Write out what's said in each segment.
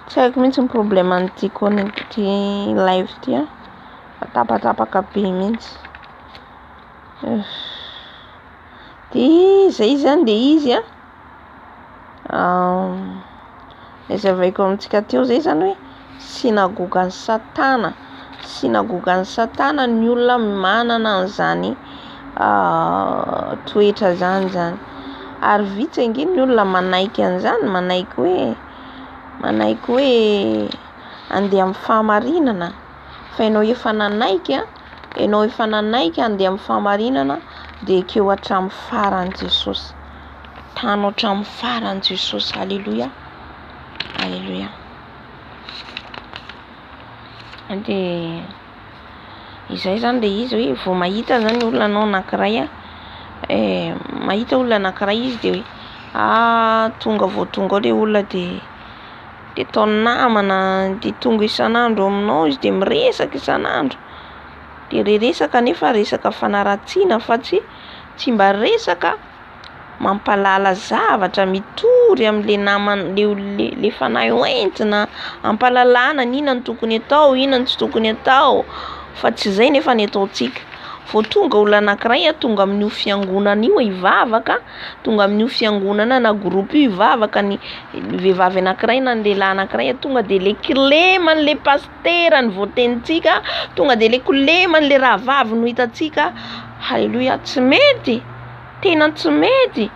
Tsy haiko mihitsy ny problème an'ity connect ity live ity a. Tapatapaka be mihitsy. Dia izay izany dia izy a. Izay zavaiko amintsika teo izay izany hoe. Synagogan'i Satana. Synagogan'i Satana ny olona manana an'izany toetra izany izany. Ary vitsy ange ny olona manaiky an'izany, manaiky hoe, manaiky hoe handeha amin'ny fahamarinana. Fa ianao efa nanaiky, ianao efa nanaiky handeha amin'ny fahamarinana, dia ekeo hatramin'ny farany Jesosy. Tano hatramin'ny farany Jesosy. Aleloia! Aleloia! dia izay zany dia izy hoe vao mahita zany olona anao anankiray a mahita olona anankiray izy dia hoe ah tonga vao tonga ao ilay olona dia dia ataony namana dia tonga isan'andro ao aminao izy dia miresaka isan'andro dia ilay resaka nefa resaka fanaratsiana fa tsy tsy mba resaka mampalala zavatra mitory amle namany le olona le fanahy ho entina ampalalana ny inona no tokony atao inona no tsy tokony atao fa tsy zay nefa ny ataontsika vao tonga olona anakiray ah tonga amin'io fiangonana io hivavaka tonga amin'io fiangonana na groupe io hivavaka ny vehivavy anakiray na ny lehilahy anakiray ah tonga de le kilema anle pasitera ny voatenintsika tonga de le kilema anle rahavavy no hitantsika haleloia tsy mety Tena tsy mety!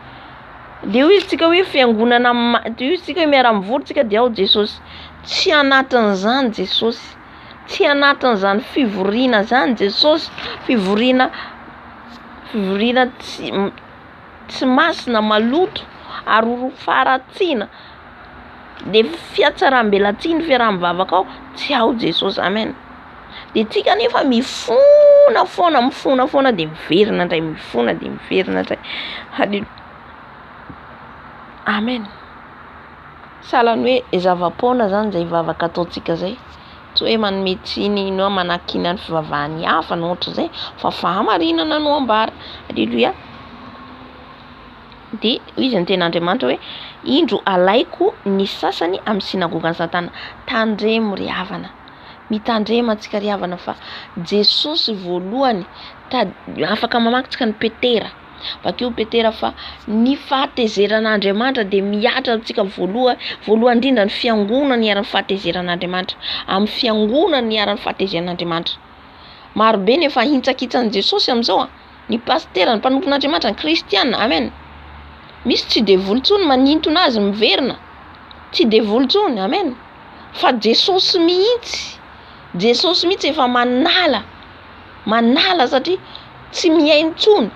De hoy izy tsika hoe fiangonana ma- de hoy tsika hoe miara mivory tsika de ao Jesosy. Tsy anatin'izany Jesosy, tsy anatin'izany fivoriana zany Jesosy, fivoriana fivoriana tsy m- tsy masina maloto ary ho faharatsiana de fihatsaram-belatsihy ny fiaraha-mivavaka ao tsy ao Jesosy amen. De tsika nefa mifona foana mifona foana de miverina ndray mifona de miverina ndray hale amen sahalan'ny hoe ny zava-poana zany zay vavaka ataontsika zay tsy hoe manome tsiny na manakiana ny fivavahan'ny hafa na ohatran'izay fa fahamarinana no ambara aleloia de hoy izy ny ten'Andriamanitra hoe indro alaiko ny sasany amin'ny sinagogan'i satana tandremo ry havana Mitandrema antsika ry havana fa Jesosy voalohany tady, afaka mamaky tsika ny Petera, vakio Petera fa ny fahatezeran'Andriamanitra dia mihatra amintsika voaloha, voalohany indrindra ny fiangonany hiaran'ny fahatezeran'Andriamanitra, amin'ny fiangonany hiaran'ny fahatezeran'Andriamanitra. Marobe ny efa hintsakitsan'i Jesosy amin'izao a. Ny pasitera ny mpanompon'Andriamanitra ny kristiana amen misy tsy devoly tsony manintona azy miverina tsy devoly tsony amen fa jesosy mihitsy jesosy mihitsy efa manala manala satria tsy mihaino tsony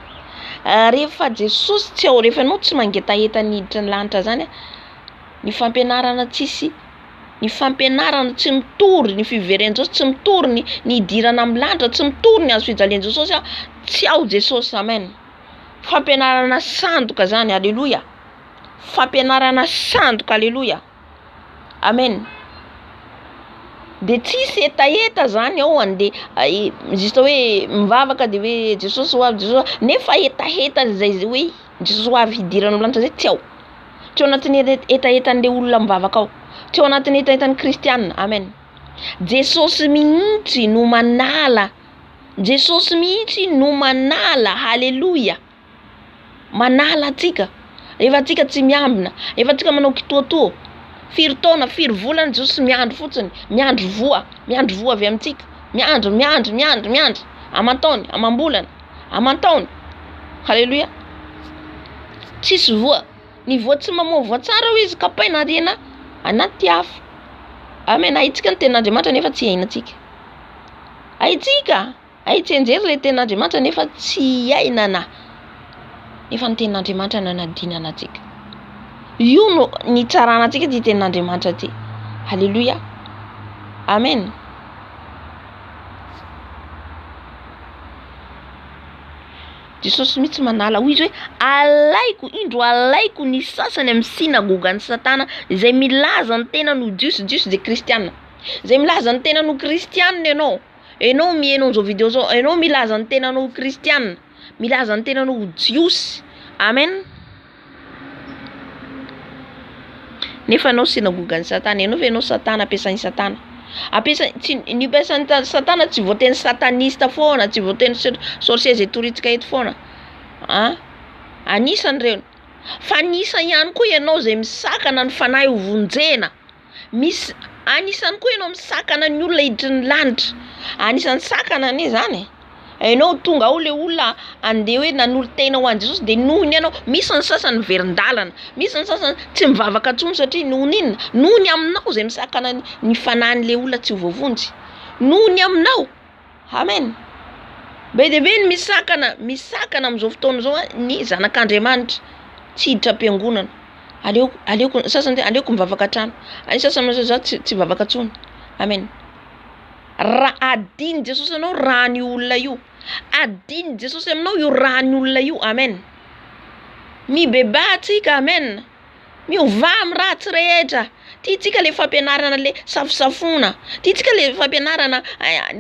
rehefa jesosy tsy ao rehefa ianao tsy mangetaheta ny hiditra ny lanitra zany a ny fampianarana tsisy ny fampianarana tsy mitory, ny fiveren-Jesosy tsy mitory, ny ny hidirana amin'ny lanitra tsy mitory, ny hazo fijalian'i Jesosy aho tsy ao Jesosy amen! Fampianarana sandoka zany aleloia! Fampianarana sandoka aleloia! Amen! De tsisy hetaheta zany ao ande zista hoe mivavaka de hoe Jesosy ho avy Jesosy ho avy nefa hetaheta zay ze hoe. Jesoa avy hidirana amin'ny lanitra izay tsy ao. Tsy ao anatin'ny hetahetan'ilay olona mivavaka ao. Tsy ao anatin'ny hetahetan'ny kristiana. Amen. Jesosy mihitsy no manala. Jesosy mihitsy no manala. Haleloia. Manala antsika. Rehefa antsika tsy miambina. Rehefa antsika manao kitoatoa. Firy taona, firy volana Jesosy miandry fotsiny. Miandry voa. Miandry voa avy amintsika. Miandry, miandry, miandry, miandry. Aman-taony, amam-bolana. aman-taony. Haleloia. Tsisy voa. Ny voa tsy mamoa voa tsara hoy izy kapaina ariana anaty afo. Amen. Ahitsika ny tenin'Andriamanitra nefa tsy iainantsika. Ahitsika. Ahitsenjery ilay tenin'Andriamanitra nefa tsy iainana. Nefa ny tenin'Andriamanitra nanadinana antsika. Io no nitsarana antsika ity tenin'Andriamanitra ity. Haleloia. Amen. Jesosy mihitsy manala hoy izy hoe alaiko indro alaiko ny sasany amin'ny sinagogan'i Satana izay milaza ny tenany ho jiosy, jiosy dia kristiana, izay milaza ny tenany ho kristiana ianao, ianao miheno an'izao video izao, ianao milaza ny tenanao ho kristiana, milaza ny tenanao ho jiosy, amen. Nefa anao synagogan'i Satana. Ianao ve ianao Satana, ampiasain'i Satana. Ampiasainy, tsy, ny ampiasain'i Satana tsy voateny satanista foana, tsy voateny sorciers et touritsika eto foana. An, anisan'ireny. Fa anisa ihany koa ianao izay misakana ny fanahy ho vonjena. Misy anisany koa ianao misakana ny olona hiditry ny lanitra, anisany sakana anie zany e! Enao tonga ao le olona andeha hoe nanolo-tena ho an'i Jesosy de noho ny anao, misy ny sasany miverin-dalana, misy ny sasany tsy mivavaka tsony satria noho ny inona? noho ny aminao zay misakana ny ny fanan'le olona tsy ho voavonjy, noho ny aminao. Amen! Be dia be ny misakana misakana amin'izao fotoana izao ny zanak'Andriamanitra tsy hiditra am-piangonana. Aleo aleoko ny sasany hoe aleoko mivavaka an-trano, ny sasany manao hoe za tsy hivavaka intsony. Amen! Raha hadinon'i Jesosy anao ràn'io olona io, hadinon'i Jesosy aminao io ràn'io olona io. Amen! Mibebaha antsika. Amen! Miovà amin'ny ratsy rehetra. Tiantsika le fampianarana le safosafoana. Tiantsika le fampianarana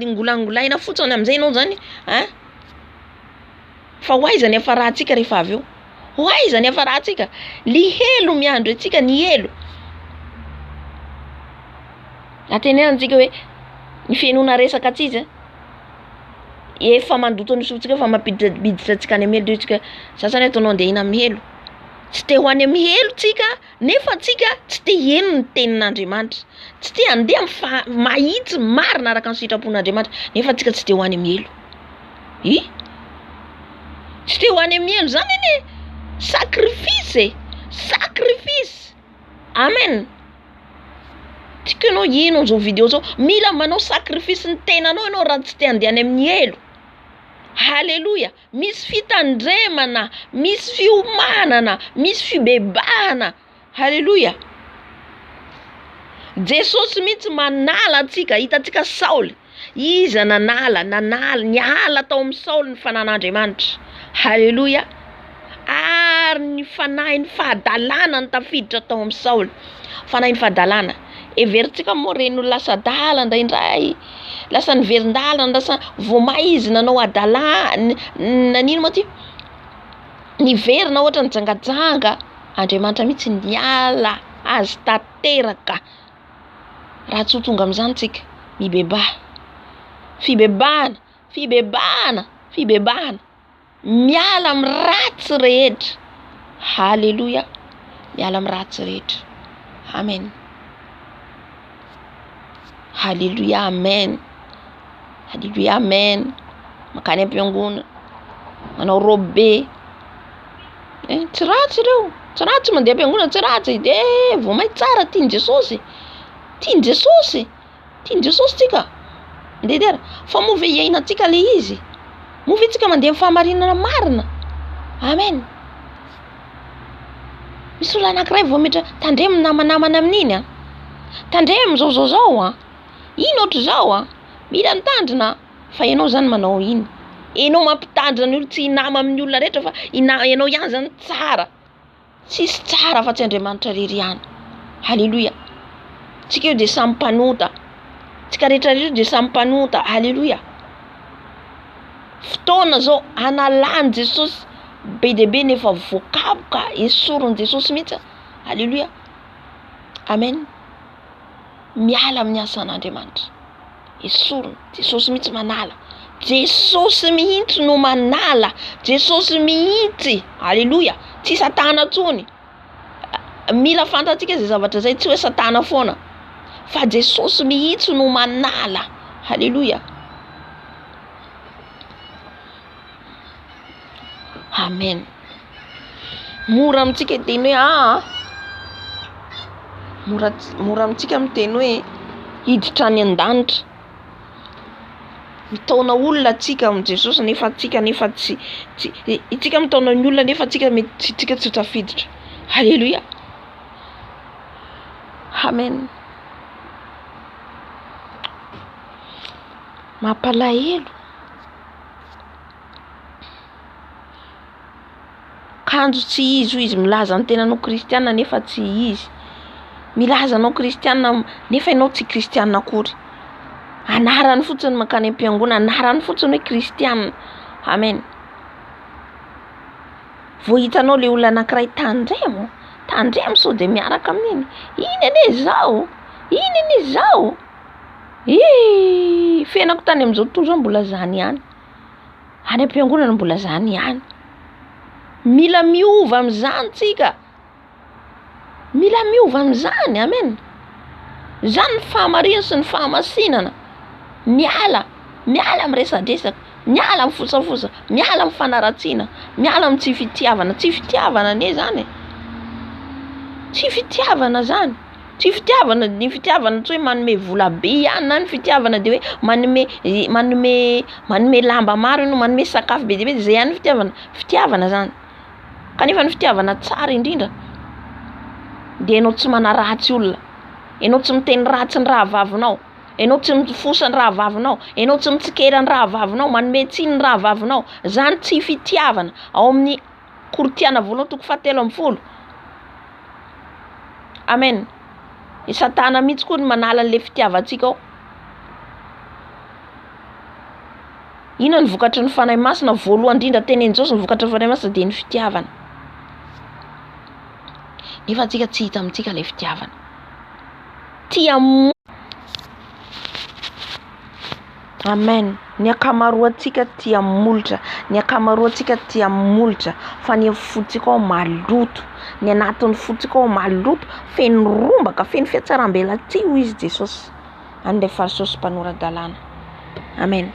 ngolangolaina fotsiny amin'izay ianao zany a. Fa ho aiza ny hiafarantsika rehefa avy eo? Ho aiza ny hiafarantsika? Le helo miandry antsika, ny helo. Antenaintsika hoe ny fihenoana resaka tsy izy a. Efa mandoto ny sotsika eo fa mampiditra biditra antsika any amin'ny helo eo isika. Za zany ataonao andeha hihina amin'ny helo. tsy te ho any amin'ny helo tsika nefa tsika tsy te hieno ny tenin'Andriamanitra, tsy te handeha amin'ny faha- mahitsy marina araka ny sitrapon'Andriamanitra nefa tsika tsy te ho any amin'ny helo. Hi? Tsy te ho any amin'ny helo zany anie sacrifice e! Sacrifice! Amen! Tsika ianao hieno an'izao video zao, mila manao sacrifice ny tenanao ianao raha tsy te handeha any amin'ny helo. Haleloia! Misy fitandremana, misy fiomanana, misy fibebahana. Haleloia! Jesosy mihitsy manala antsika, hitantsika Saoly, iza nanala, nanala, niala tao amin'ny Saoly ny fanan'Andriamanitra, haleloia, ary ny fanahin'ny fahadalana no tafiditra tao amin'i Saoly, fanahin'ny fahadalana, heverintsika moa ireny ho lasa adala indraindray. Lasa niverin-dalana lasa vao may izy nanao adala nanino moa ty niverina ohatra nijangajanga Andriamanitra mihitsy niala azy tanteraka raha tsy ho tonga amin'izany tsika mibebaha fibebahana fibebahana fibebahana Miala amin'ny ratsy rehetra. Haleloia. Miala amin'ny ratsy rehetra. Amen. Haleloia. Amen. Haleloia. Amen. Makany am-piangonana. Manao robe be. Eh, tsy ratsy ireo. Tsy ratsy mandeha am-piangonana, tsy ratsy. Dia vao may tsara tian'i Jesosy. Tian'i Jesosy. Tian'i Jesosy tsika ndeha dia fa moa ve iainantsika le izy? Moa ve tsika mandeha amin'ny fahamarinana marina? Amen. Misy olona anankiray vao metra tandremo namanamana amin'iny a. Tandremo zao zao zao a. Ino ohatr'izao a. Mila mitandrina fa ianao zany manao iny. Ianao mampitandrina ny olona tsy hinama amin'ny olona rehetra fa ianao ihany zany tsara. Tsisy tsara afa tsy Andriamanitra rery ihany. Aleloia. Tsika io de samy mpanota. Tsika rehetra rehetra de samy mpanota. Aleloia. Fotoana zao analany Jesosy be dia be nefa voakaboka esorin'i Jesosy mihitsy. Aleloia. Amen. Miala amin'ny asan'Andriamanitra. esorina, Jesosy mihitsy manala, Jesosy mihitsy no manala, Jesosy mihitsy, aleloia, tsy satana tsony, mila fantatsika zay zavatra zay tsy oe satana fona fa Jesosy mihitsy no manala, aleloia. Amen. Mora amintsika hiteny hoe aa. Ah, ah. Mora mora amintsika miteny hoe hiditra any an-danitra. Mitaona olona antsika amin'i Jesosy nefa antsika nefa tsy tsy isika mitaona ny olona nefa antsika mety tsy isika tsy tafiditra. Haleloia. Amen. Mampalahelo. kanjo tsy izy hoy izy milaza ny tenany ho kristiana nefa tsy izy, milaza anao kristiana nefa ianao tsy kristiana akory, anarany fotsiny no mankany am-piangonana, anarany fotsiny hoe kristiana, amen, vao hitanao ilay olona anakiray tandremo, tandremo sao dia miaraka amin'iny, iny anie zao, iny anie zao. Hii fiainako tany amin'izao tontolo izao mbola zany ihany, any am-piangonana mbola zany ihany, mila miova amin'izany tsika, mila miova amin'izany amen, zany ny fahamariana sy ny fahamasinana, miala miala amin'ny resadresaka, miala amin'ny fosafosa, miala amin'ny fanaratsiana, miala amin'ny tsy fitiavana, tsy fitiavana anie zany e, tsy fitiavana zany. Tsy fitiavana, ny fitiavana tsy hoe manome vola be ihany na ny fitiavana de hoe manome manome manome lamba maro enao manome sakafo be dia be de zay ihany ny fitiavana, fitiavana zany kanefa ny fitiavana tsara indrindra de enao tsy manaratsy olona, enao tsy miteny ratsy ny rahavavinao, enao tsy mifosa ny rahavavinao, enao tsy mitsikera ny rahavavinao, manome tsiny ny rahavavinao, zany tsy fitiavana ao amin'ny. Korintiana voalohany toko fahatelo ambin'ny folo. Amen. I Satana mihitsy koa no manala an'ilay fitiavantsika ao. Inona ny vokatry ny Fanahy Masina? Voalohany indrindra tenenin'i Jesosy ny vokatry ny Fanahy Masina dia ny fitiavana. Nefa antsika tsy hita amintsika ilay fitiavana. Tia Amen ny akamaroantsika tia molotra ny akamaroantsika tia molotra fa ny fotsika ao maloto ny anatin'ny fotsika ao maloto feno rombaka feno fiatsaram-belatsihy hoy izy Jesosy an'ilay fariseo sy mpanora-dalàna amen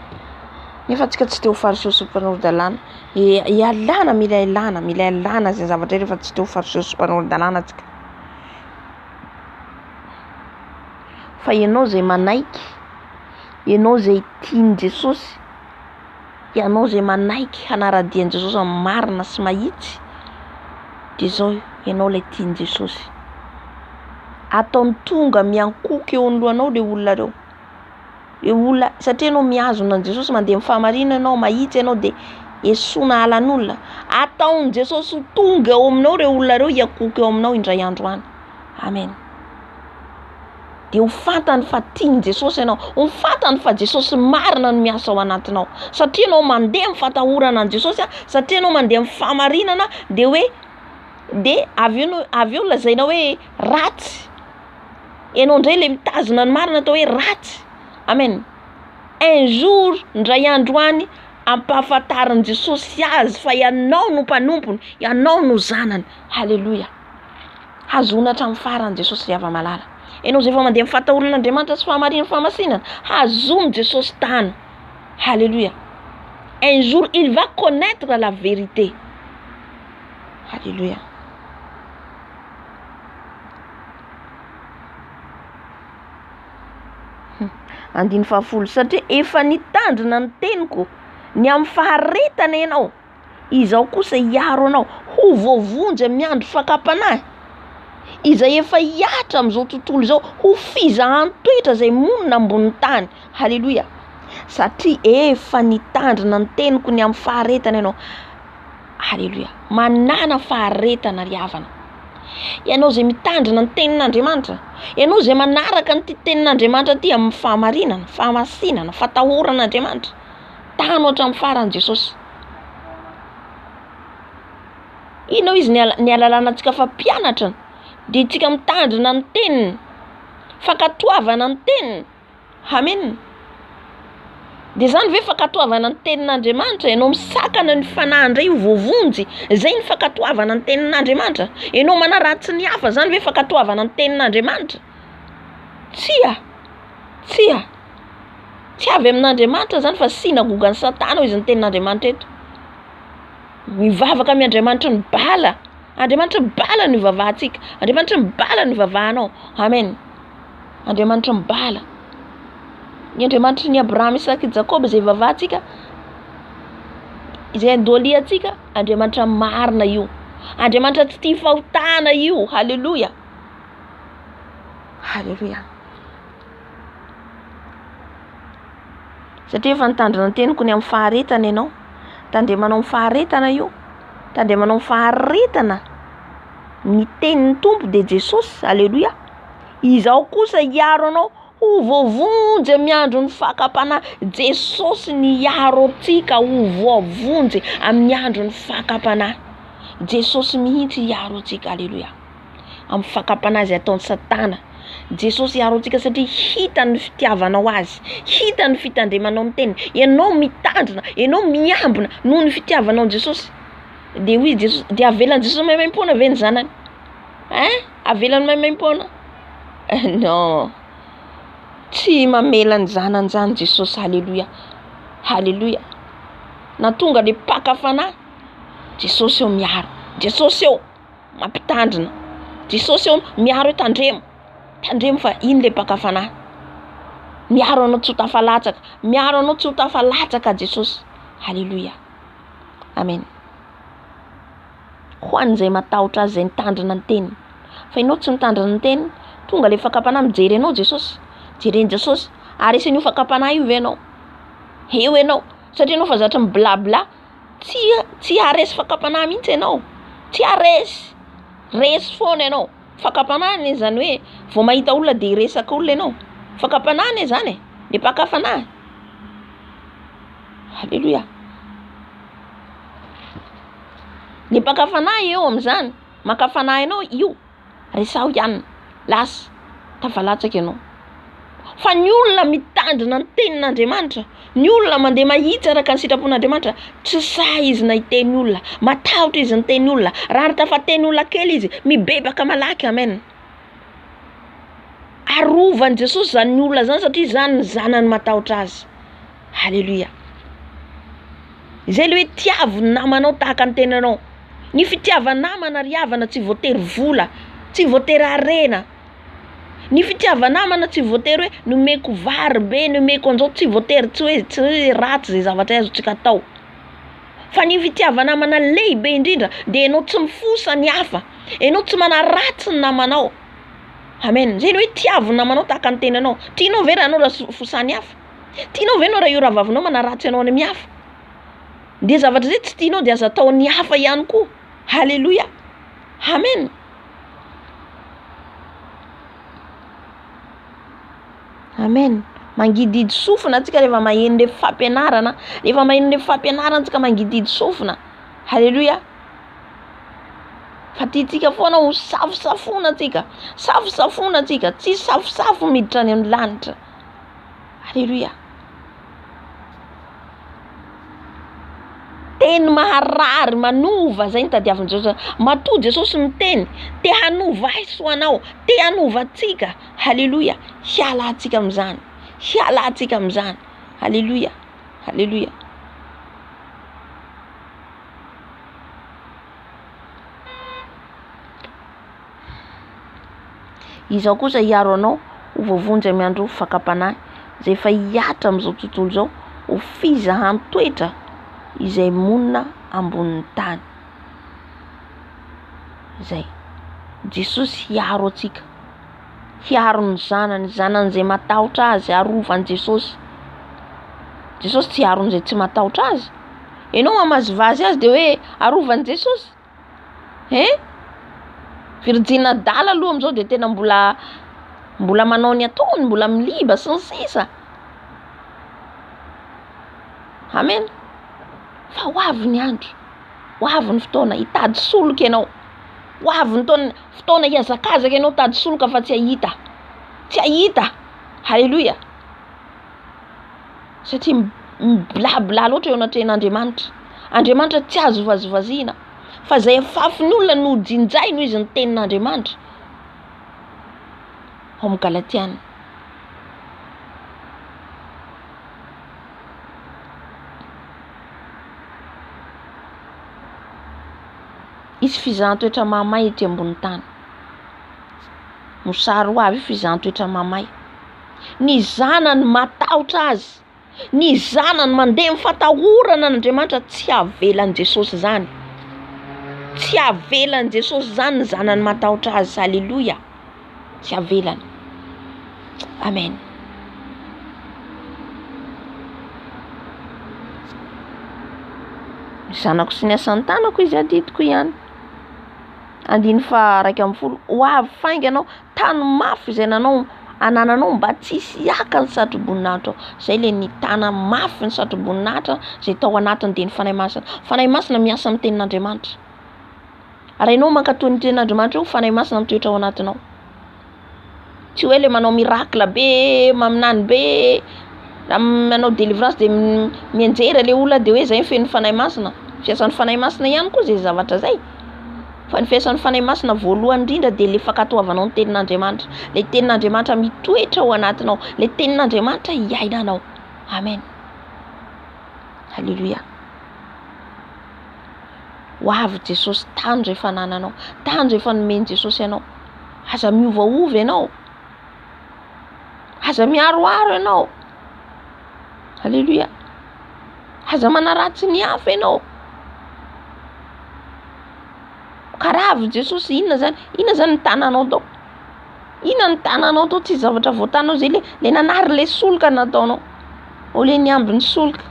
nefa antsika tsy te ho fariseo sy mpanora-dalàna e ialana mila ialana mila ialana izay zavatra izay rehefa tsy te ho fariseo sy mpanora-dalàna tsika fa ianao izay manaiky ianao izay tian'i Jesosy, ianao izay manaiky hanara-dia an'i Jesosy amin'ny marina sy mahitsy dia izao ianao ilay tian'i Jesosy. Ataony tonga miankohoka eo amin'ny lohanao ireo olona ireo. Ireo olona satria ianao mihazona an'i Jesosy mandeha amin'ny fahamarinana ianao, mahitsy ianao dia esoina halan'olona. Ataon'i Jesosy ho tonga ao aminao ireo olona ireo hiankohoka eo aminao indray andro any. Amen. dia ho fantany fa tian'i Jesosy ianao, ho fantany fa Jesosy marina no miasa ao anatinao. Satria ianao mandeha amin'ny fatahorana an'i Jesosy, satria ianao mandeha amin'ny fahamarinana, dia hoe dia avy eo no avy eo lazainao hoe ratsy, ianao indray ilay mitazona ny marina atao hoe ratsy. Amen. Un jour, indray andro any, hampahafantarin'i Jesosy azy fa ianao no mpanompony, ianao no zanany. Haleloia. Hazoana hatramin'ny farany Jesosy ry hava malala. Enao izay vao mandeha amin'ny fahatahoran' Andriamanitra sy fahamariany fahamasinana, hazono Jesosy tano. Haleloia. Un jour il va connaître la vérité. Haleloia. Andiny fahafolo, satria efa nitandrina ny teniko, ny amin'ny faharetana ianao. Izaho kosa hiaro anao. Ho voavonjy amin'ny andro fakam-panahy. Izay efa hihatra amin'izao tontolo izao. Ho fizahan toetra izay monina ambonin'ny tany. Haleloia. Satria efa nitandrina ny teniko ny amin'ny faharetana ianao. Haleloia. Manàna faharetana ry havana. Ianao izay mitandrina ny tenin'Andriamanitra. Ianao izay manaraka an'ity tenin'Andriamanitra ity amin'ny fahamarinana, fahamasinana, fatahoran'Andriamanitra. Tano hatramin'ny farany Jesosy. Inona hoy izy ny ny alalana antsika fa mpianatra dia tsika mitandrina ny teniny fankatoavana ny teniny amena. De zany ve fankatoavana ny tenin'Andriamanitra ianao misakana ny fanahy indray ho voavonjy zay ny fankatoavana ny tenin'Andriamanitra? Ianao manaratsy ny hafa zany ve fankatoavana ny tenin'Andriamanitra? Tsia, tsia. Tsy avy amin'Andriamanitra izany fa synagogan'i Satana hoy izy ny tenin'Andriamanitra eto. Mivavaka amin'ny Andriamanitry ny bala. Andriamanitry ny bala no ivavahantsika. Andriamanitry ny bala no ivavahanao. Amen. Andriamanitry ny bala. Ny Andriamanitry ny Abrahama, Isaka, Jakoba izay ivavahantsika, izay andoliantsika, Andriamanitra marina io. Andriamanitra tsy tia fahotana io. Haleloia. Haleloia. Satria efa nitandrina ny teniko ny amin'ny faharetana ianao. Tandremanao amin'ny faharetana io. Tandremanao amin'ny faharetana. Ny tenin'ny Tompo dia Jesosy. Aleloia. Izaho kosa hiaro anao ho voavonjy amin'ny andron'ny fakam-panahy. Jesosy no hiaro antsika ho voavonjy amin'ny andron'ny fakam-panahy. Jesosy mihitsy hiaro antsika. Aleloia. amin'ny fakam-panahy izay ataon'i Satana. Jesosy hiaro antsika satria hitany ny fitiavanao Azy, hitany ny fitandremanao ny teniny. Ianao mitandrina, ianao miambina noho ny fitiavanao an'i Jesosy. Dia hoy Jesosy, dia avelan'i Jesosy maimaim-poana ve ny zanany? Ein! Avelany maimaim-poana? Non! Tsy mamela ny zanany izany Jesosy. Haleloia! Haleloia! Na tonga dia mpaka fanahy, Jesosy eo miaro, Jesosy eo. mampitandrina. Jesosy hono miaro hoe tandremo, tandremo fa iny le mpaka fanahy. Miaro anao tsy ho tafalatsaka, miaro anao tsy ho tafalatsaka Jesosy. Haleloia. Amen. Ho an'izay matahotra azy, izay mitandrina ny teniny. Fa ianao tsy mitandrina ny teniny, tonga le fakam-panahy mijery anao Jesosy. Jereny Jesosy, ary esen'io fakam-panahy io ve ianao? Eo ianao, satria ianao efa zatra mi-bla bla. tsy tsy haharesy fakam-panahy mihitsy ianao, tsy haharesy, resy foana ianao, fakam-panahy anie zany hoe vao mahita olona de hiresaka olona ianao, fakam-panahy anie zany e, le mpaka fanahy, aleloia, le mpaka fanahy eo amin'izany, maka fanahy anao io. Resaho ihany, lasa tafalatsaka ianao. Fa ny olona mitandrina ny tenin'Andriamanitra, ny olona mandeha mahitsy araka ny sitrapon'Andriamanitra, tsy sahy izy na hiteny olona, matahotra izy miteny olona, raha ary tafateny olona kely izy, mibebaka malaky. Amen. Arovan'i Jesosy izany olona izany satria izany ny zanany matahotra azy. Haleloia Zay le hoe tiavo ny namanao tahaka ny tenanao Ny fitiava namana ry havana tsy voatery vola tsy voatery harena Ny fitiava namana tsy voatery hoe nomeko vary be nomeko anzao tsy voatery tsy hoe tsy hoe ratsy zay zavatra azontsika atao fa ny fitiava namana lehibe indrindra de enao tsy mifosa ny hafa enao tsy manaratsy ny namanao Amen zay le hoe tiavo ny namanao tahaka ny tenanao Tinao ve ranao raha fosaha ny hafa. Tianao ve ianao raha io rahavavinao manaratsy anao any amin'ny hafa? De zavatra izay tsy tianao de aza ataon'ny hafa ihany koa. Haleloia! Amen! Amen! Mangidihidy sofina antsika rehefa maheno le fampianarana, rehefa maheno le fampianarana antsika mangidihidy sofina. Haleloia! Fa tiantsika foana ho safosafoina antsika, safosafoina antsika, tsy safosafo miditra any amin'ny lanitra. Aleloia! Teny maharary, manova zay no tadiavin'i Jesosy. Matoa Jesosy miteny, te hanova ahy sy ho anao, te hanova antsika. Aleloia! Hiala antsika amin'izany, hiala antsika amin'izany. Aleloia! Aleloia! Izaho kosa hiaro anao ho voavonjy amin'ny andro fakam-panahy, izay efa hihatra amin'izao tontolo izao ho fizahan-toetra izay monina ambonin'ny tany. Izay. Jesosy hiaro antsika. Hiaro ny zanany, zanan'izay matahotra azy, arovan'i Jesosy. Jesosy tsy hiaro an'izay tsy matahotra azy. Ianao mamazivazy azy dia hoe arovan'i Jesosy. Hein? Virjiny adala aloha amin'izao dia tena mbola mbola manao ny ataony, mbola miliba sy ny sisa. Amen. Fa ho avy ny andro, ho avy ny fotoana hitady solika ianao, ho avy ny taona fotoana hihazakazaka ianao hitady solika fa tsy hahita, tsy hahita. Haleloia. satria mi-blabla loatra eo anatrehan'Andriamanitra, Andriamanitra tsy azo vazivaziana fa izay afafin'ny olona no jinjay noho izy ny tenin'Andriamanitra ao amin'ny Galatiana. Hisy fizahan-toetra mahamay ety ambony tany, mosary ho avy io fizahan-toetra mahamay. ny zanany matahotra azy, ny zanany mandeha amin'ny fatahorana an'Andriamanitra tsy havelan'i Jesosy izany, tsy havelan'i Jesosy izany ny zanany matahotra azy, aleloia, tsy havelany, amen. Ny zanako sy ny asan'ny tanako izy adidiko ihany, andininy faha iraika ambin'ny folo, ho avy faingana aho. tany mafy izay nanao anananao mba tsy hisy hiaka ny satroboninahitra ao. Izay ilay nitana mafy ny satroboninahitra izay tao anatiny dia ny Fanahy Masina. Fanahy Masina miasa amin'ny tenin'Andriamanitra. Ary ianao mankatoa ny tenin'Andriamanitra eo ny Fanahy Masina mitoetra ao anatinao. Tsy hoe ilay manao miracle be, maminany be, na manao délivrance dia mianjera ilay olona dia hoe izay ny fenon'ny Fanahy Masina. Fiasan'ny Fanahy Masina ihany koa izay zavatra izay. Fa ny fiasan'ny Fanahy Masina voalohany indrindra dia ilay fankatoavanao ny tenin'Andriamanitra, ilay tenin'Andriamanitra mitoetra ao anatinao, ilay tenin'Andriamanitra iainanao. Amen. Alléluia. Ho avy Jesosy tany rehefa nananao, tany rehefa nomen'i Jesosy anao. Aza miovaova ianao. Aza miharoharo ianao. Aleloia. Aza manaratsy ny hafa ianao. Ka raha avy Jesosy inona zany? Inona zany ny tananao tao? Inona ny tananao tao? Tsy zavatra voatanao zay le le nanary le solika nataonao. Au lieu ny ambiny solika.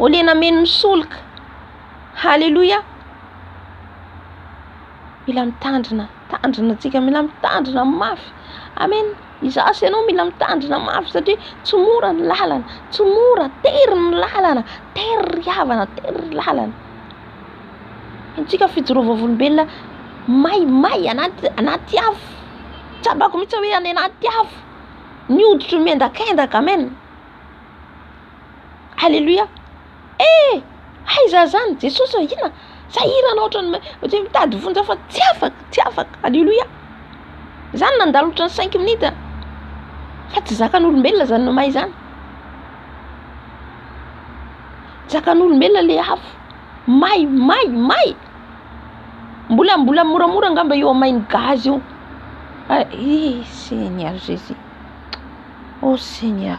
Au lieu nameno ny solika. Aleloia. Mila mitandrina, tandrina antsika, mila mitandrina mafy. Amen. Izaho sy ianao mila mitandrina mafy satria tsy mora ny lalana, tsy mora, tery ny lalana, tery ry havana, tery ry lalana. Antsika fijoroam-vavolombelona may may anaty anaty afo. Tsapako mihitsy hoe any anaty afo. Ny hoditro miendakendaka. Amen. Aleloia eh aiza zany Jesosy ô inona sahirana otrany otrany mitady vonjy fa tsy afaka tsy afaka aleloia zany nandalo otrany cinq minutes a fa tsy zakan'olombelona zany no may zany zakan'olombelona le afo may may may. Mbola mbola moramora angamba io amay ny gaz io ah eh seigneur jesus oh seigneur